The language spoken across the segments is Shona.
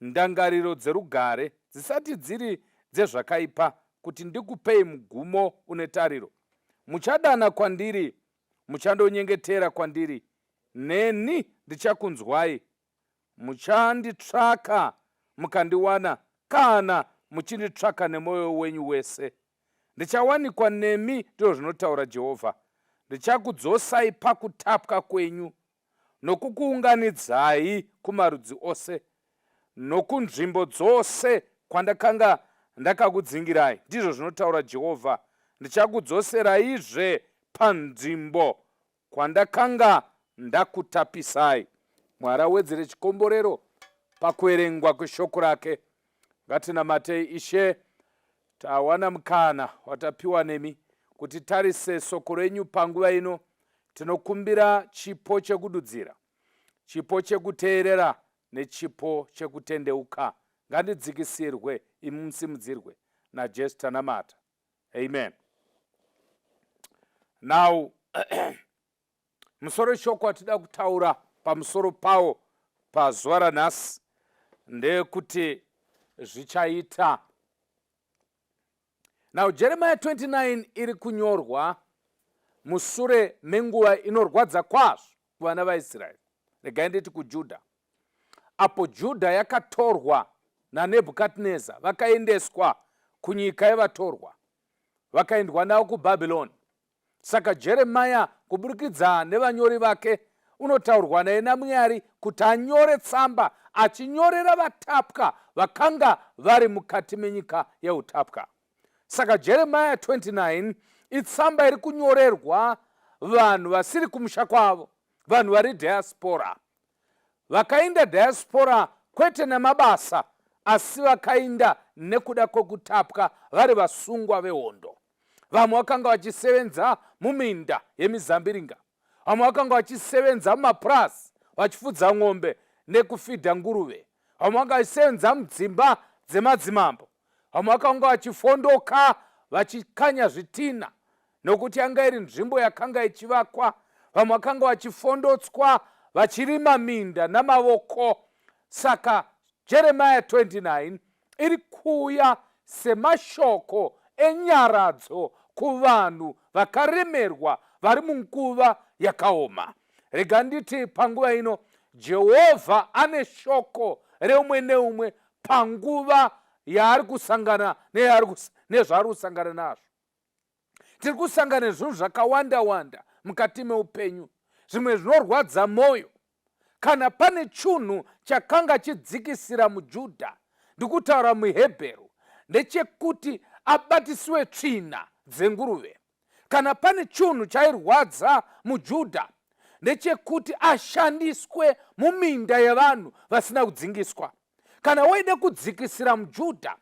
ndangariro dzerugare dzisati dziri dzezvakaipa, kuti ndikupei mugumo une tariro. Muchadana kwandiri, muchandonyengetera kwandiri, neni ndichakunzwai, muchanditsvaka mukandiwana kana muchinditsvaka nemwoyo wenyu wese. Ndichawanikwa nemi, ndizvo zvinotaura Jehovha. Ndichakudzosai pakutapwa kwenyu nokukuunganidzai kumarudzi ose nokunzvimbo dzose kwandakanga ndakakudzingirai, ndizvo zvinotaura Jehovha. Ndichakudzoseraizve panzvimbo kwandakanga ndakutapisai. Mwari awedzere chikomborero pakuverengwa kweshoko rake. ngatinamatei ishe tawana mukana watapiwa nemi kuti tarise soko renyu panguva ino tinokumbira chipo chekududzira chipo chekuteerera nechipo chekutendeuka ngandidzikisirwe imi musimudzirwe najesu tanamata amen now Musoro shoko atida kutaura pamusoro pawo pazuva ranhasi ndekuti zvichaita now jeremiya 29 iri kunyorwa musure menguva inorwadza kwazvo kuvana vaisraeri regai nditi kujudha apo judha yakatorwa nanebhukadneza vakaendeswa kunyika yevatorwa vakaendwa navo kubhabhironi Saka Jeremiah kuburikidza nevanyori vake unotaurwa naye naMwari kuti anyore tsamba achinyorera vatapwa vakanga vari mukati menyika yeutapwa. Saka Jeremiah 29 itsamba iri kunyorerwa vanhu vasiri kumusha kwavo, vanhu vari diaspora. Vakainda diaspora kwete nemabasa asi vakainda nekuda kwekutapwa vari vasungwa vehondo. vamwe vakanga vachisevenza muminda yemizambiringa vamwe vakanga vachisevenza mumapurasi vachifudza ng'ombe nekufidha nguruve vamwe vanga vachisevenza mudzimba dzemadzimambo vamwe vakanga vachifondoka vachikanya zvitina nokuti yanga iri nzvimbo yakanga ichivakwa vamwe vakanga vachifondotswa vachirima minda namavoko saka jeremiya 29 iri kuuya semashoko enyaradzo kuvanhu vakaremerwa vari munguva yakaoma rega nditi panguva ino jehovha ane shoko reumwe neumwe panguva yaari kusangana nezvaari kusangana nazvo tiri kusangana nezvinhu zvakawanda wanda mukati meupenyu zvimwe zvinorwadza mwoyo kana pane chunhu chakanga chidzikisira mujudha ndikutaura muhebheru ndechekuti abatisiwe tsvina dzenguruve kana pane chunhu chairwadza mujudha ndechekuti ashandiswe muminda yevanhu vasina kudzingiswa kana waida kudzikisira mujudha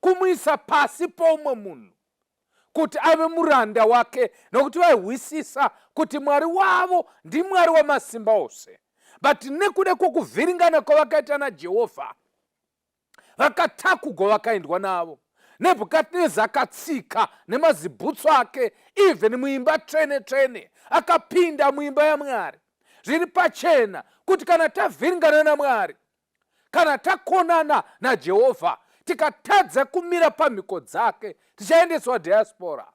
kumuisa pasi poumwe munhu kuti ave muranda wake nokuti vaihwisisa kuti mwari wavo ndimwari wamasimba ose but nekuda kwokuvhiringana kwavakaita najehovha vakatakugwa vakaendwa navo nebhukadneza akatsika nemazibhutsu ake even muimba tsvene tsvene akapinda muimba yamwari zviri pachena kuti kana tavhiringana namwari kana takonana najehovha tikatadza kumira pamhiko dzake tichaendeswa diaspora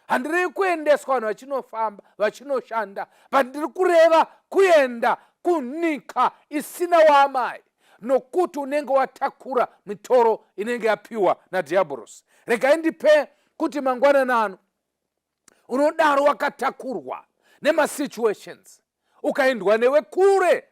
handirevi kuendeswa vanhu vachinofamba vachinoshanda but ndiri kureva kuenda kunyika isina waamai nokuti unenge watakura mitoro inenge yapiwa nadhiabhorosi regai ndipe kuti mangwanana ano unodaro wakatakurwa nemasituations ukaendwa newe kure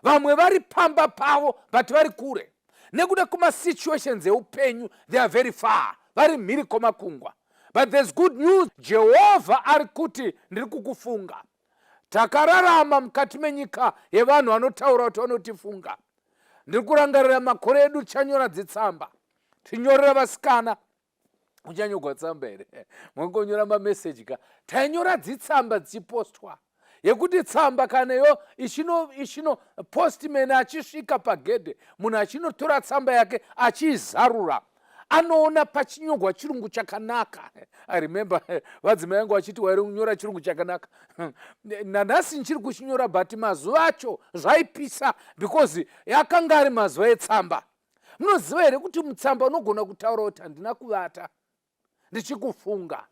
vamwe vari pamba pavo but vari kure nekuda kumasituations eupenyu they are very far vari mhiri komakungwa but there's good news jehovha ari kuti ndiri kukufunga takararama mukati menyika yevanhu vanotaura kuti vanotifunga ndiri kurangarira makore edu tichanyora dzitsamba tinyorera vasikana uchanyogwa tsamba here mongonyora mameseji ka tainyora dzitsamba dzichipostwa yekuti tsamba kana yo ichino ichino postman achisvika pagedhe munhu achinotora tsamba yake achiizarura anoona pachinyogwa chirungu chakanaka i remember vadzima yangu vachiti wairi kunyora chirungu chakanaka nanhasi ndichiri kuchinyora but mazuva acho zvaipisa because yakanga ari mazuva etsamba munoziva here kuti mutsamba unogona kutaura kuti handina kuvata ndichikufunga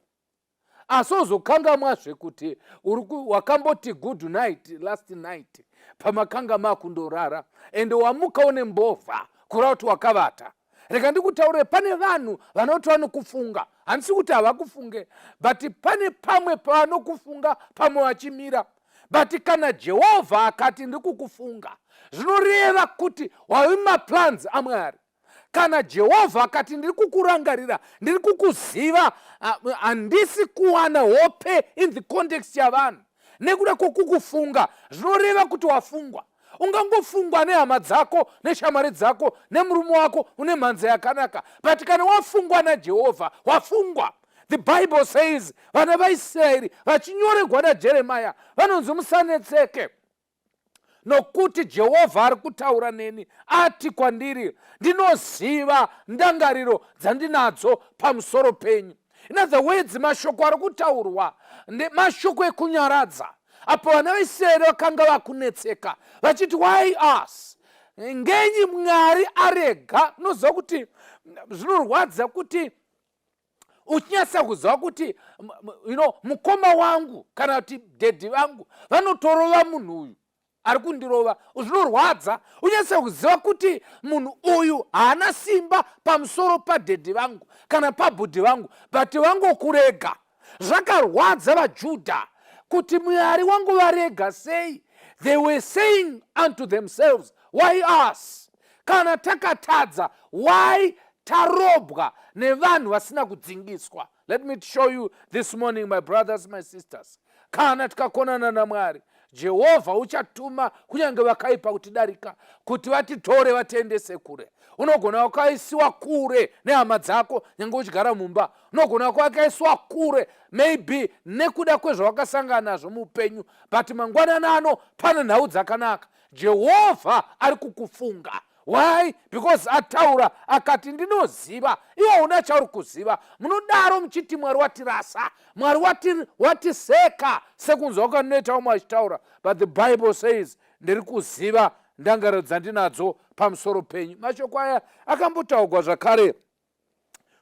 asi ozokangamwa zvekuti wakamboti good night last night pamakanga makundorara ende wamuka une mbovha kura kuti wakavata rega ndikutaurire pane vanhu vanoti vanokufunga handisi kuti havakufunge but pane pamwe pavanokufunga pamwe vachimira pa but kana jehovha akati ndiri kukufunga zvinoreva kuti wavi maplans amwari kana jehovha akati ndiri kukurangarira ndiri kukuziva handisi kuwana hope in the context yavanhu nekuda kwokukufunga zvinoreva kuti wafungwa ungangofungwa nehama dzako neshamwari dzako nemurume wako une mhanza yakanaka but kana wafungwa najehovha wafungwa the bible says vana vaisraeri vachinyoregwa najeremaya vanonzi musanetseke nokuti jehovha ari kutaura neni ati kwandiri ndinoziva ndangariro dzandinadzo pamusoro penyu in other words mashoko ari kutaurwa mashoko ekunyaradza apo vana vaisraeri vakanga vakunetseka vachiti why us ngenyi mwari arega unoziva kuti zvinorwadza kuti uchinyatsa kuziva kuti you know, mukoma wangu kana kuti dhedhi vangu vanotorova munhu uyu ari kundirova zvinorwadza unyatsa kuziva kuti munhu uyu haana simba pamusoro padhedhi vangu kana pabhudhi vangu but vangokurega zvakarwadza vajudha kuti mwari wangu varega sei they were saying unto themselves why us kana takatadza why tarobwa nevanhu vasina kudzingiswa let me show you this morning my brothers my sisters kana tikakonana namwari jehovha uchatuma kunyange vakaipa kutidarika kuti vatitore vatiendese kure unogona wakaisiwa kure nehama dzako nyange uchigara mumba unogona wako wakaisiwa kure maybe nekuda kwezvawakasangana nazvo muupenyu but mangwanana ano pane nhau dzakanaka jehovha ari kukufunga why because ataura akati ndinoziva iwo una chauri kuziva munodaro muchiti mwari watirasa mwari watiseka sekunzwa kwandinoita vamwe vachitaura but the bible says ndiri kuziva ndangariro dzandinadzo pamusoro penyu mashoko aya akambotaurwa zvakare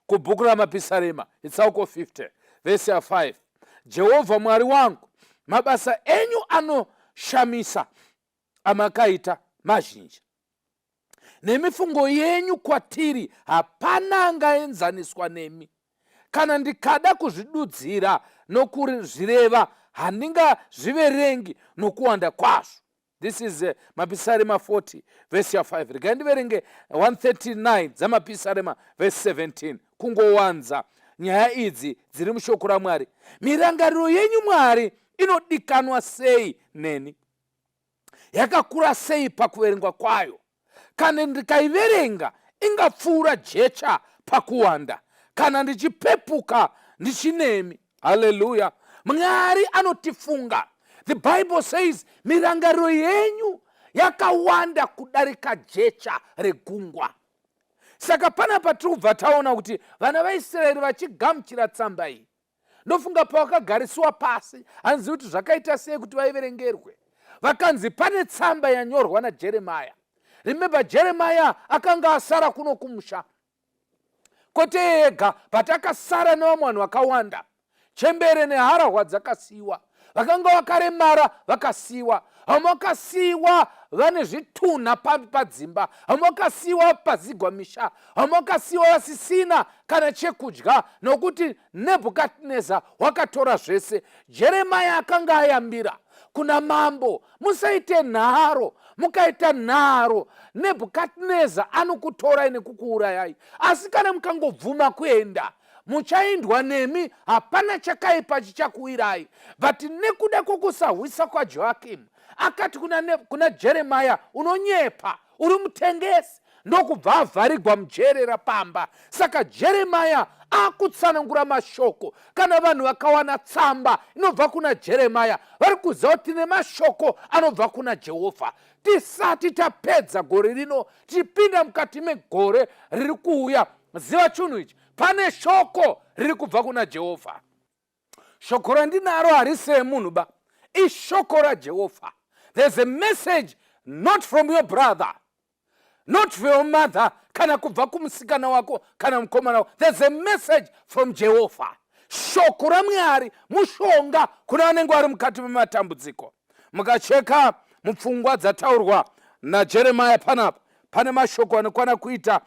kubhuku ramapisarema itsauko 50 vhesi ya 5 jehovha mwari wangu mabasa enyu anoshamisa amakaita mazhinji nemifungo yenyu kwatiri hapana angaenzaniswa nemi kana ndikada kuzvidudzira nokuzvireva handingazviverengi nokuwanda kwazvo this is uh, mapisarema 40 vhesi ya 5 regai ndiverenge 139 dzamapisarema vhesi 17 kungowanza nyaya idzi dziri mushoko ramwari mirangariro yenyu mwari inodikanwa sei neni yakakura sei pakuverengwa kwayo kana ndikaiverenga ingapfuura jecha pakuwanda kana ndichipepuka ndichinemi haleluya mwari anotifunga the bible says mirangariro yenyu yakawanda kudarika jecha regungwa saka pana patiri kubva taona kuti vana vaisraeri vachigamuchira tsamba iyi ndofunga pavakagarisiwa pasi hanzi kuti zvakaita sei kuti vaiverengerwe vakanzi pane tsamba yanyorwa najeremaya remember jeremaya akanga asara kuno kumusha kwete yega but akasara nevamwe vanhu vakawanda chembere neharahwa dzakasiyiwa vakanga vakaremara vakasiyiwa vamwe vakasiyiwa vane zvitunha padzimba vamwe vakasiyiwa pazigwa misha vamwe vakasiyiwa vasisina kana chekudya nokuti nebhukadneza wakatora zvese jeremaya akanga ayambira kuna mambo musaite nharo mukaita nharo nebhukadneza anokutorai nekukuurayai asi kana mukangobvuma kuenda muchaindwa nemi hapana chakaipa chichakuwirai but nekuda kwokusahwisa kwajoakimu akati kuna, kuna jeremaya unonyepa uri mutengesi ndokubva avharigwa mujere rapamba saka jeremaya akutsanangura mashoko kana vanhu vakawana tsamba inobva kuna jeremaya vari kuziva kuti tine mashoko anobva kuna jehovha tisati tapedza gore rino tichipinda mukati megore riri kuuya ziva chunhu ichi pane shoko riri kubva kuna jehovha shoko randinaro harisi remunhu ba ishoko rajehovha there's a message not from your brother not from your mother kana kubva kumusikana wako kana mukomana wako there's a message from jehovha shoko ramwari mushonga kuna vanenge vari mukati mematambudziko mukacheka mupfungwa dzataurwa najeremaya panapa pane mashoko anokwana kuita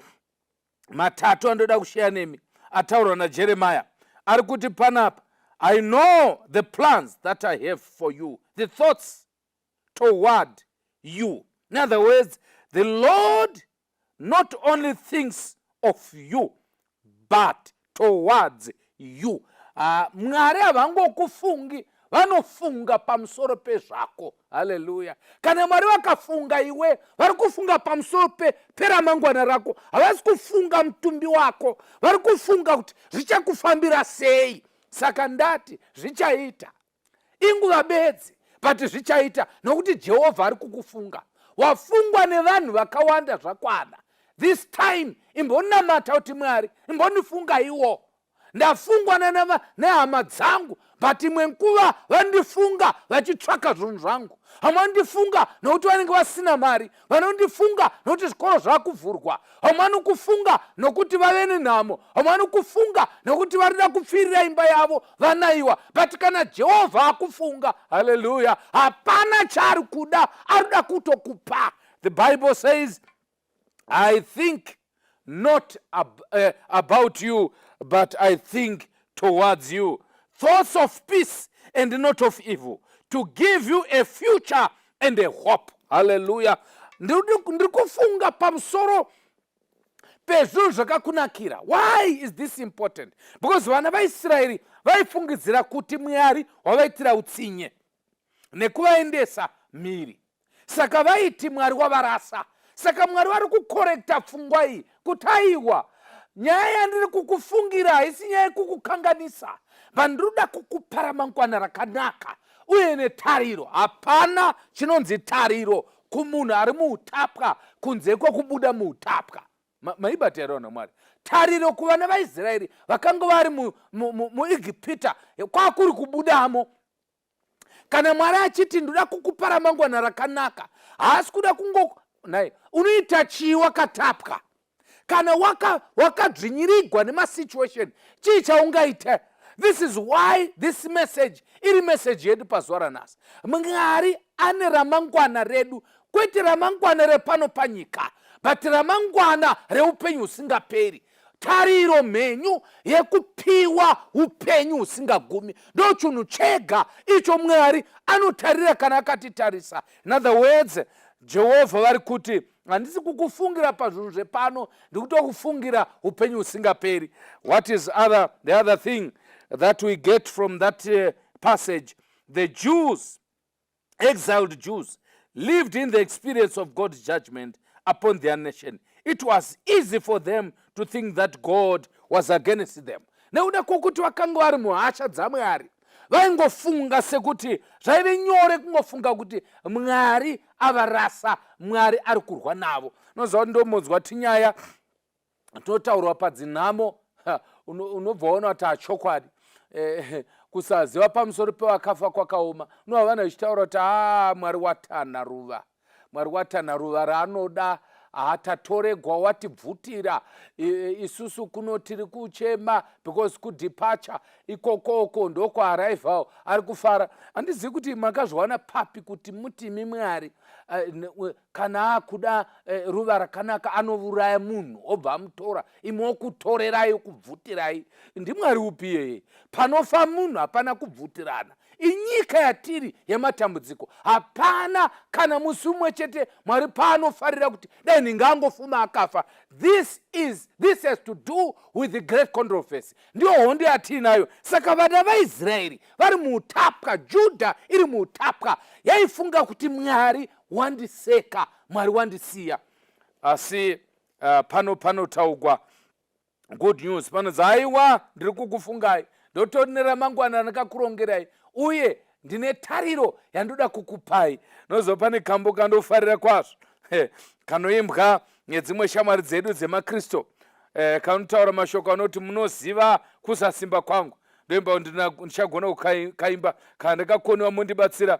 matatu andoda kusheya nemi ataurwa najeremiya ari kuti panapa i know the plans that i have for you the thoughts toward you in other words the lord not only thinks of you but towards you ha mwari havangokufungi vanofunga pamusoro pezvako haleluya kana mwari vakafunga iwe vari kufunga pamusoro pe peramangwana rako havasi kufunga mutumbi wako vari kufunga kuti zvichakufambira sei saka ndati zvichaita inguva bedzi but zvichaita nokuti jehovha ari kukufunga wafungwa nevanhu vakawanda zvakwana this time imbonamata kuti mwari imbonifungaiwo ndafungwa nehama dzangu but imwe nguva vandifunga vachitsvaka zvinhu zvangu hamwandifunga nokuti vanenge vasina mari vanondifunga nokuti zvikoro zvakuvhurwa vamwe vanokufunga nokuti vave nenhamo vamwe vanokufunga nokuti varida kupfirira imba yavo vanaiwa but kana jehovha akufunga haleluya hapana chaari kuda arikuda kutokupa the bible says i think not ab, uh, about you but i think towards you thoughts of peace and not of evil to give you a future and a hope haleluya ndiri kufunga pamusoro pezvinhu zvakakunakira why is this important because vana vaisraeri vaifungidzira kuti mwari wavaitira utsinye nekuvaendesa mhiri saka vaiti mwari wavarasa saka mwari vari kukorekta pfungwa iyi kuti aiwa nyaya yandiri kukufungira haisi nyaya yekukukanganisa vandiri kuda kukupa ramangwana rakanaka uye netariro hapana chinonzi tariro kumunhu ari muutapwa kunze kwekubuda muutapwa maibata here vanhu vamwari tariro kuvana vaisraeri vakanga vari muegipita kwakuri kubudamo kana mwari achiti ndoda kukupa ramangwana rakanaka haasi kuda kungo nai unoita chii wakatapwa kana wakadzvinyirigwa waka nemasituation chii chaungaita this is why this message iri message yedu pazuva ranhasi mwari ane ramangwana redu kwete ramangwana repano panyika but ramangwana reupenyu husingaperi tariro mhenyu yekupiwa upenyu husingagumi ndo chunhu chega icho mwari anotarira kana akatitarisa in other words jehovha vari kuti handisi kukufungira pazvinhu zvepano ndikutokufungira upenyu husingaperi what is other, the other thing that we get from that uh, passage the jews exiled Jews lived in the experience of God's judgment upon their nation, it was easy for them to think that God was against them. nekuda kwokuti vakanga vari muhasha dzamwari vaingofunga sekuti zvaive nyore kungofunga kuti mwari avarasa mwari ari kurwa navo noziva ndomonzwa tinyaya tinotaurwa padzinhamo unobva waona kuti achokwadi eh, kusaziva pamusoro pevakafa kwakaoma unova vana vechitaura kuti aa ah, mwari watana ruva mwari watana ruva raanoda hatatoregwa watibvutira isusu kuno tiri kuchema because kudepature ikokoko ndokwaarrival ari kufara handizivi kuti makazviwana papi kuti mutimi mwari kana akuda eh, ruva rakanaka anovuraya munhu obva amutora imi wokutorerai kubvutirai ndimwari upi iyeye panofa munhu hapana kubvutirana inyika yatiri yematambudziko hapana kana musi umwe chete mwari paanofarira kuti dai ndinge angofuma akafa this is this has to do with the great controversy ndiyo hondo yatiinayo saka vana vaisraeri vari muutapwa judha iri muutapwa yaifunga kuti mwari wandiseka mwari wandisiya asi uh, pano panotaugwa good news panonzi haiwa ndiri kukufungai ndotori neramangwana randakakurongerai uye ndine tariro yandoda kukupai nozova pane kambo kandofarira kwazvo kanoimbwa nedzimwe shamwari dzedu dzemakristu eh, kanotaura mashoko anoti munoziva kusasimba kwangu ndoimba ndichagona kukaimba kana ndakakoniwa mondibatsira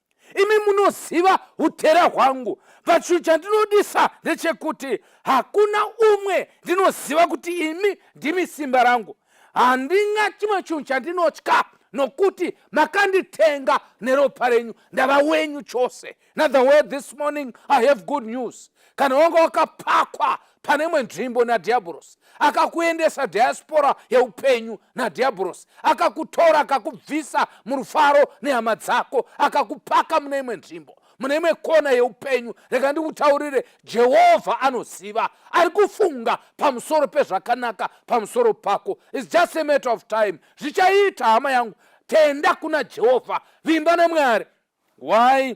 imi munoziva utera hwangu but chinhu chandinodisa ndechekuti hakuna umwe ndinoziva kuti imi ndimi simba rangu handina chimwe chinhu chandinotya nokuti makanditenga neropa renyu ndava wenyu chose nother way this morning i have good news kana wanga wakapakwa pane imwe nzvimbo nadhiabhorosi akakuendesa diaspora yeupenyu nadhiabhorosi akakutora akakubvisa murufaro nehama dzako akakupaka mune imwe nzvimbo mune imwe kona yeupenyu rega ndikutaurire jehovha anoziva ari kufunga pamusoro pezvakanaka pamusoro pako its just a matter of time zvichaita hama yangu tenda kuna jehovha vimba nemwari why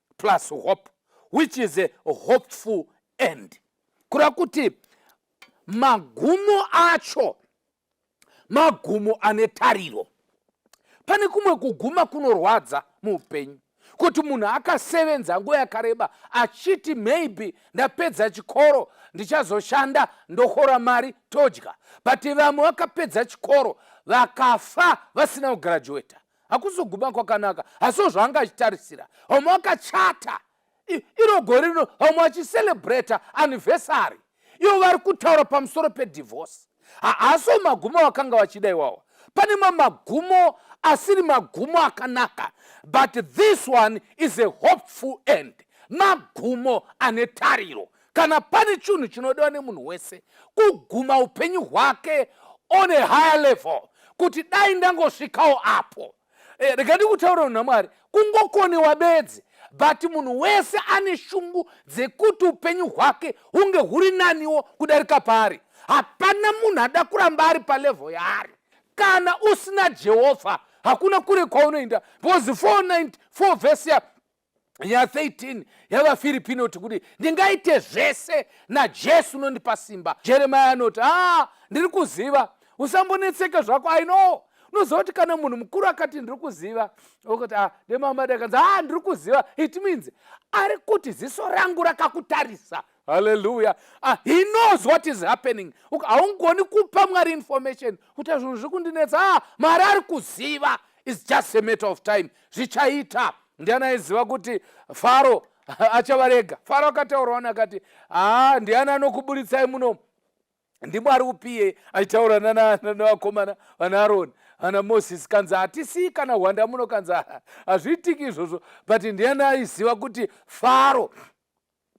plus hope which is a hopeful end kureva kuti magumo acho magumo ane tariro pane kumwe kuguma kunorwadza muupenyu kuti munhu akasevenza nguva yakareba achiti maybe ndapedza chikoro ndichazoshanda ndokora mari todya but vamwe vakapedza chikoro vakafa vasina kugraduata hakuzoguma kwakanaka hasiwo zvaanga achitarisira homwe akachata iro gore rino homwe achiselebrata anniversary ivo vari kutaura pamusoro pedivorce haasiwo magumo vakanga vachida iwawa pane ma magumo asiri magumo akanaka but this one is a hopeful end magumo ane tariro kana pane chinhu chinodiwa nemunhu wese kuguma upenyu hwake on a higher level kuti dai ndangosvikawo apo eh, rega ndikutaura munhu namwari kungokoniwa bedzi but munhu wese ane shungu dzekuti upenyu hwake hunge huri naniwo kudarika paari hapana munhu ada kuramba ari palevhel yaari kana usina jehovha hakuna kure kwaunoenda because 494 vhesi ya ya 13 yavafiripi inoti kuti ndingaite zvese najesu unondipa simba jeremaya anoti haa ah, ndiri kuziva usambonetseka zvako i know unoziva kuti kana munhu mukuru akati ndiri kuziva okuti ah, demamada kanzi haa ah, ndiri kuziva it means ari kuti ziso rangu rakakutarisa haleluya ah, he knows what is happening haungoni kupa mwari information kuti zvinhu zviri kundinetsa ah, mwari ari kuziva is just a matter of time zvichaita ndiani aiziva kuti faro achavarega faro akataurawo nakati haa ah, ndiani anokuburitsai muno ndimwari upiye aitaura nanakomana vana aroni ana moses kanzi hatisii kana hwanda muno kanzi hazviitiki izvozvo but ndiani aiziva kuti faro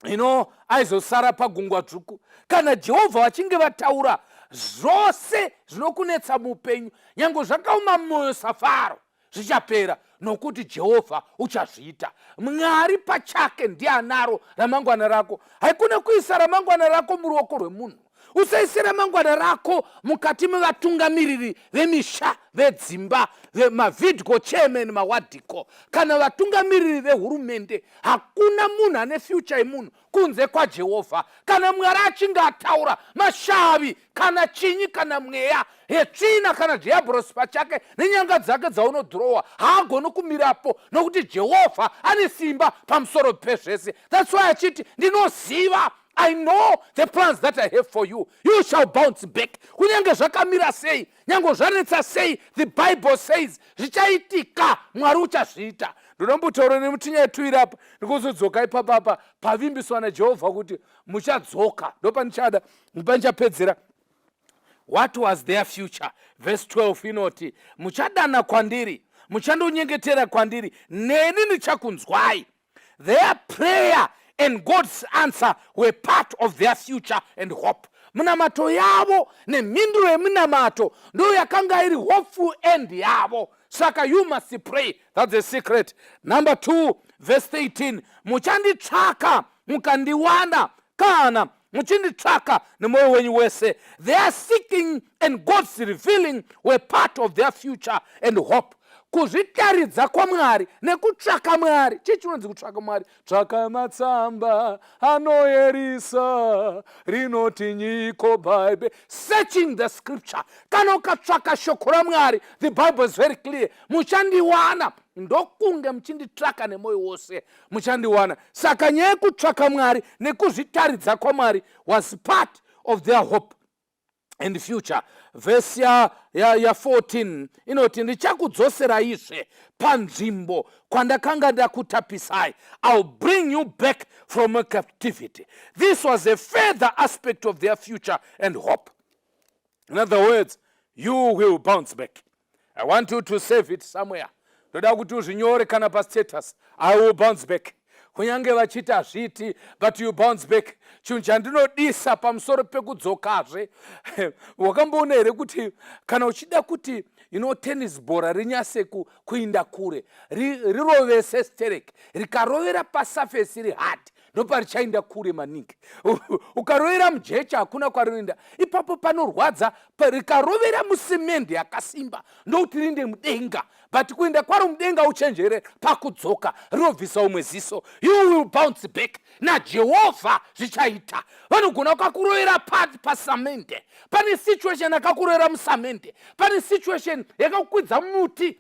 ino aizosara pagungwa dzvuku kana jehovha vachinge vataura zvose zvinokunetsa muupenyu nyange zvakaoma mwoyo safaro zvichapera nokuti jehovha uchazviita mwari pachake ndiye anaro ramangwana rako haikune kuisa ramangwana rako muruoko rwemunhu usaise ramangwana rako mukati mevatungamiriri vemisha vedzimba mavidco chairman mawadiko kana vatungamiriri vehurumende hakuna munhu ane fyucha yemunhu kunze kwajehovha kana mwari achinge ataura mashavi kana chinyi kana mweya hetsvina kana dhiabhorosi pachake nenyanga dzake dzaunodhurowa haagoni kumirapo nokuti jehovha ane simba pamusoro pezvese thats why achiti ndinoziva i know the plans that i have for you you shall bounce back kunyange zvakamira sei nyange zvanetsa sei the bible says zvichaitika mwari uchazviita ndinombotaura nemutinyaya tuiri apa ndikuzodzoka ipapapa pavimbiswa najehovha kuti muchadzoka ndopanichada ndopanichapedzera what was their future verse 12 inoti muchadana kwandiri muchandonyengetera kwandiri neni ndichakunzwai their prayer and god's answer were part of their future and hope minamato yavo nemhinduro yeminamato ndo yakanga iri hopeful end yavo saka you must pray thats the secret number 2 verse 13 muchanditsvaka mukandiwana kana muchinditsvaka nemwoyo wenyu wese their seeking and god's revealing were part of their future and hope kuzvitaridza kwamwari nekutsvaka mwari chii chinonzi kutsvaka mwari tsvaka matsamba anoerisa rinoti nyiko bible searching the scripture kana ukatsvaka shoko ramwari the bible is very clear muchandiwana ndokunge muchinditsvaka nemwoyo wose muchandiwana saka nyaya yekutsvaka mwari nekuzvitaridza kwamwari was part of their hope and future vhesi ya, ya, ya 14 inoti ndichakudzoseraizve panzvimbo kwandakanga ndakutapisai ill bring you back from a captivity this was a further aspect of their future and hope in other words you will bounce back i want you to save it somewhere ndoda kuti uzvinyore kana pastatus i will bounce back kunyange vachiti hazviiti but you bounce back chinhu chandinodisa pamusoro pekudzokazve wakamboona here kuti kana uchida kuti you know tennis bhora rinyase kuinda kure rirovese sterek rikarovera pasafesi iri hard ndoparichainda kure maningi ukarovera mujecha hakuna kwarinoenda ipapo panorwadza rikarovera musimende yakasimba ndokuti rinde mudenga but kuenda kwaro mudenga uchenjere pakudzoka rinobvisa umwe ziso you will bounce back najehovha zvichaita vanogona ukakurovera pati pasamende pane situation akakurovera musamende pane situation yakakukwidza muti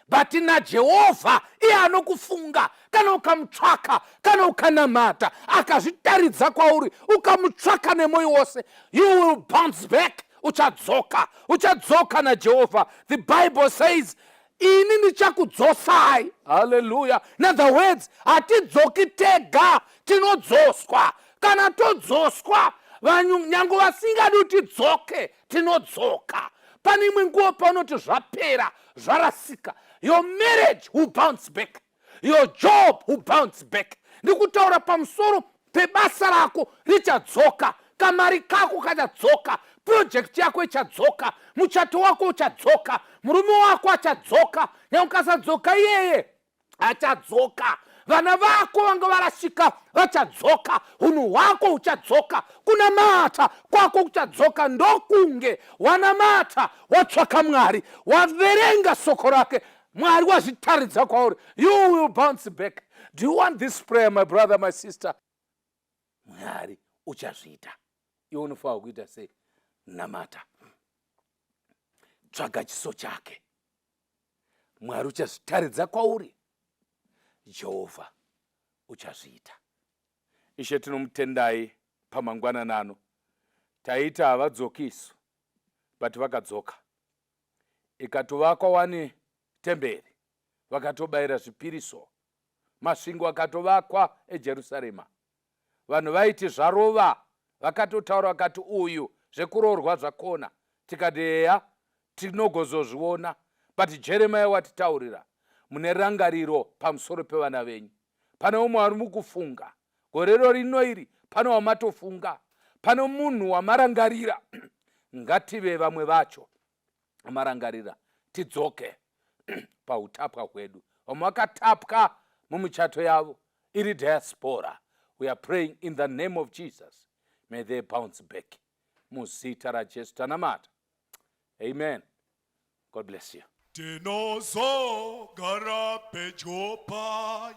but najehovha iye anokufunga kana ukamutsvaka kana ukanamata akazvitaridza kwauri ukamutsvaka nemwoyo wose you will bounce back uchadzoka uchadzoka najehovha the bible says ini ndichakudzosai haleluya inother words hatidzoki tega tinodzoswa kana todzoswa vanhu nyange vasingadi kuti tidzoke tinodzoka pane imwe nguva paunoti zvapera zvarasika your marriage will bounce back your job will bounce back ndikutaura pamusoro pebasa rako richadzoka kamari kako kachadzoka project yako ichadzoka muchato wako uchadzoka murume wako achadzoka nyamukasadzoka iyeye achadzoka vana vako vanga varasika vachadzoka hunhu hwako huchadzoka kunamata kwako kuchadzoka ndokunge wanamata watsvaka mwari waverenga soko rake mwari wazvitaridza kwauri you will bounce back do you want this prayer my brother my sister mwari uchazviita iwe unofanira kuita sei namata tsvaga chiso chake mwari uchazvitaridza kwauri jehovha uchazviita ishe tinomutendai pamangwanana ano taita havadzoki isu but vakadzoka ikatovakwa wani temberi vakatobayira zvipiriso masvingo akatovakwa ejerusarema vanhu vaiti zvarova vakatotaura vakati uyu zvekuroorwa zvakona tikati heya tinogozozviona but jeremaya watitaurira mune rangariro pamusoro pevana venyu pane umwe wari mukufunga gorero rino iri pane wamatofunga pane munhu wamarangarira ngative vamwe vacho marangarira tidzoke pautapwa hwedu vamwe vakatapwa mumuchato yavo iri diaspora we are praying in the name of jesus may they bounce back muzita rajesu tanamata amen god bless you tinozogara pedyo paye